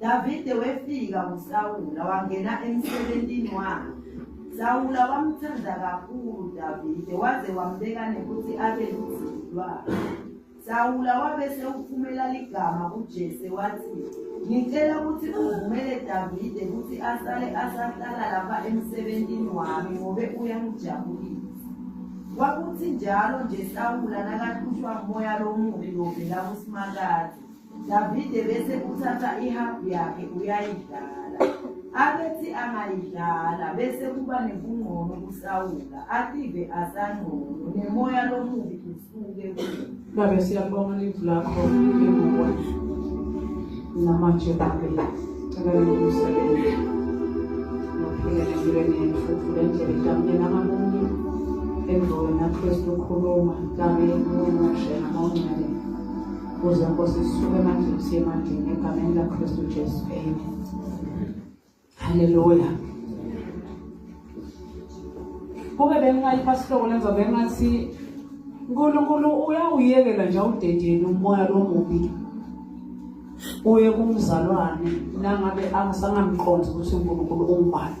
Davide wefika kuSawula wangena emsebenzini wakhe. Sawula wamthanda kakhulu Davide waze wambeka nokuthi abe luzulu lwakhe. Sawula wabe sewuphumela ligama kuJese wathi, Ngicela ukuthi uvumele Davide ukuthi asale asahlala lapha emsebenzini wami ngobe uyangijabulisa. Kwakuthi njalo nje Sawula nakahlushwa umoya lomubi lovela kuSimakade. Davide bese kuthatha ihabhu yakhe uyayidlala abethi angayidlala bese kuba nebungqono kusawula ative asangqono nemoya lomubi usuke babe siyabonga livu lakho ebukwethu namanje babe cela ukusebenza nophile empilweni yethu vule ndlela itamukela ngamunye emva wena kristu ukhuluma kami umushe namawungcwele Buza Nkosi sisuke emandleni siye emandleni egameni laKristu Jesu. Amen. Hallelujah. Kube bengingalipha sihloko lenza bengathi uNkulunkulu uyawuyekela nje awudedeni umoya lomubi uye kumzalwane nangabe angisangamqondi ukuthi uNkulunkulu ungubani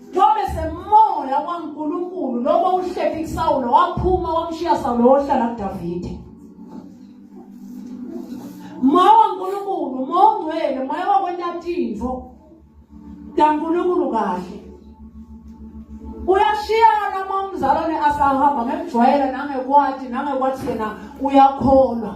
Noma semoya waNkulunkulu noma uhleli kuSawulo waphuma wamshiya Sawulo wohlala kuDavide. Moya waNkulunkulu, moya ongcwele, moya wakwentatintfo. KaNkulunkulu kahle. Uyashiyana uma umzalwane asahamba ngemjwayela nangekwati nangekwati yena uyakholwa.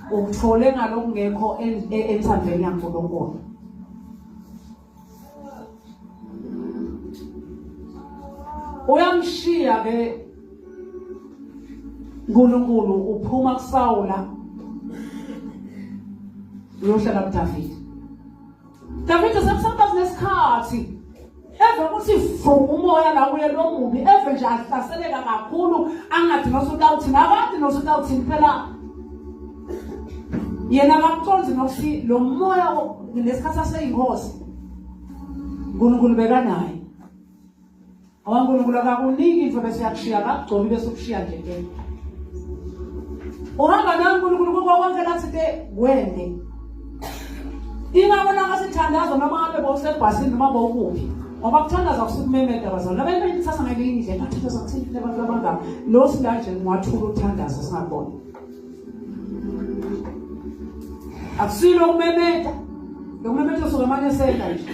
Ukuthole ngalokungekho enthandweni yaNkulunkulu. Uyamshiya ke uNkulunkulu uphuma kuSawula uyohlala kuDavide Davide sekusaba kunesikhathi eve ukuthi vuma umoya la kuye lo mubi eve nje ahlaseleka kakhulu angathi nosutawuthini abathi nosutawuthini phela yena akakuconzi nokuthi lo moya lesikhathi aseyinkosi unkulunkulu bekanaye ngoba unkulunkulu akakuniki into bese yakushiya akakugcobi bese ukushiya nje ke uhamba naye unkulunkulu kuko konke lathi ke wende ingabona ngasithandazo noma ngabe bowusebhasini noma bowukuphi ngoba kuthandaza kusukumemeda bazalwane abantu bayithatha ngelinye indlela bathandaza kuthini abantu abangaka lo silanje ngiwathula ukuthandaza singabona akusilo ukumemeda lokumemeda usuke manje senta nje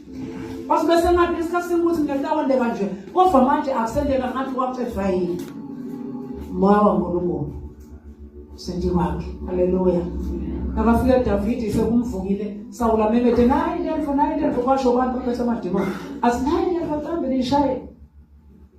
Basi bese ngathi isikhathi senkuthi ngehlawondeka nje kodwa manje akusendeka ngathi wacefa yini moya wankulunkulu sendi wakhe haleluya nakafika davidi sekumvukile sawula memede nayi lento nayi lento kwasho abantu baphethe amadimoni athi nayi lento qambe nishaye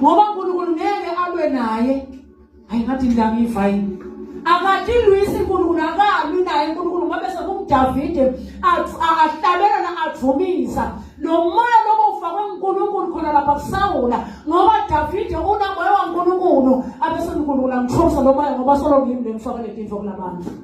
ngoba uNkulunkulu ngeke alwe naye hayi ngathi indaba ivayini akadilwisi uNkulunkulu akalwi naye uNkulunkulu ngabe sekumdavide ahlabelana avumisa lo moya lobo ufakwe uNkulunkulu khona lapha kusawula ngoba davide unamoya wankulunkulu abesenkulunkulu angithomisa lo moya ngoba solo ngimi le ngifakele tinto kulabantu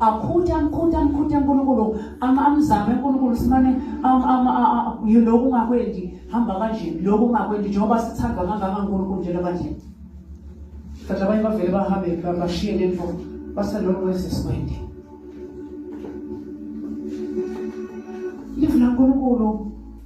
akhuthe amkhuthe amkhuthe uNkulunkulu amzame uNkulunkulu simane lokhu ungakwendi hamba kanje lokhu ungakwendi njengoba sithandwa kangaka uNkulunkulu njalo kanje kanti abanye bavele bahambe bashiye le nto basalokhu wezesikwende live laNkulunkulu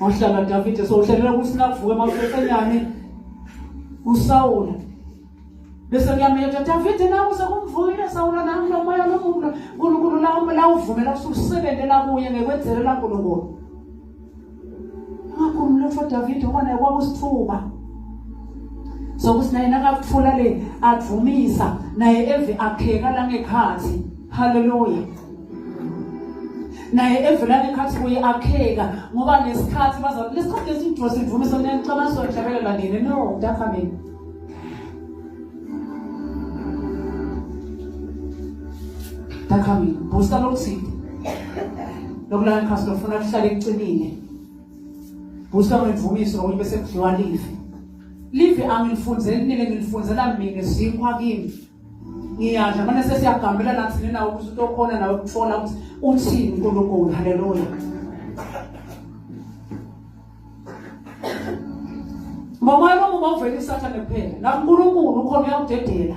Wahlala Davide so uhlelela ukuthi nakuvuka emafefenyane uSawula bese kuyamyetha Davide nawe sekumvuyile Sawula nami lomoya lomuntu uNkulunkulu lawo la uvumela ususebenze la kuye ngekwenzele la uNkulunkulu Ngakho umlotho Davide ubona kwakusithuba sokuthi naye nakakuthula le avumisa naye eve akheka la ngekhathi Hallelujah. naye evela nekhathi kuye akheka ngoba nesikhathi baza lesikhathi lesidro sivume sona nicabanga sona njabele la ngene no mntaka mina mntaka mina busa lokuthinte lokulala ikhasi lofuna kuhlale kucinile busa ngimvumiso ngokuthi bese kudliwa live live angilifunzeli nile ngilifunzela mina sinkwa kimi ngiyadla manje sesiyagambela nathi nina ukuthi utokhona nawe ukuthola ukuthi uthini uNkulunkulu haleluya Mama yami ubavela isathane kuphela la uNkulunkulu ukhona uyawudedela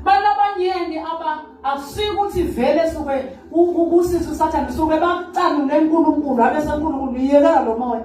Bana abanyeni aba akusike ukuthi vele suke ubusisa usathane suke bakucanule uNkulunkulu abe senkulunkulu yekela lo moya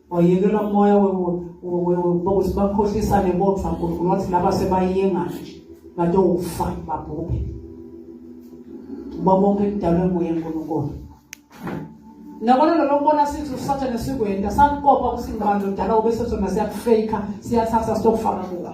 wayekelwa umoya wokuthi bakhohlisane bodwa nkulunkulu wathi laba sebayenga nje kade ufa babhubhe uba bonke kudalwe nguye nkulunkulu nabona lelo kubona sithi usathane sikwenda sakukopa ukuthi ngibani lodala ube sesona siyakufeyikha siyathatha sitokufaka kuka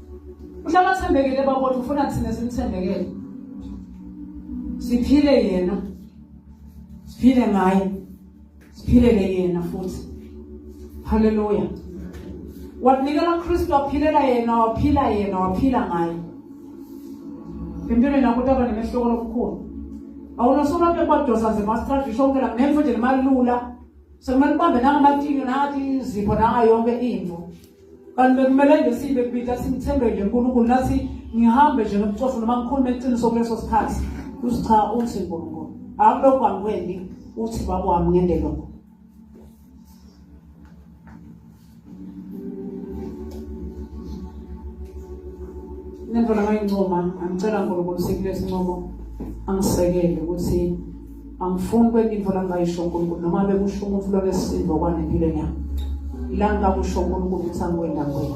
uhlala athembekile babona ufuna thina simthembekele siphile yena siphile ngaye siphilele yena futhi haleluya wanikela kristu waphilela yena waphila yena waphila ngaye empilweni yakho utaba nemehluko lokukhulu awunosobantu ekwadosa nje masitradi isho ukela ngemfo nje limalula sekumele ubambe nangamatini nangathi izipho nanga yonke into kanti bekumele nje sibe kubita simthembele uNkulunkulu nathi ngihambe nje nobucofu noma ngikhulume iqiniso kuleso sikhathi uthi cha uthi uNkulunkulu akulokhu angikwendi uthi baba wami ngende lokho nento lamayincoma angicela uNkulunkulu sikulesi ncomo angisekele ukuthi angifuni kwenye into langayisho uNkulunkulu noma bekusho umuntu lonesisindo okwane empilweni yami la ngakusho uNkulunkulu ukuthi angikwenda ngwena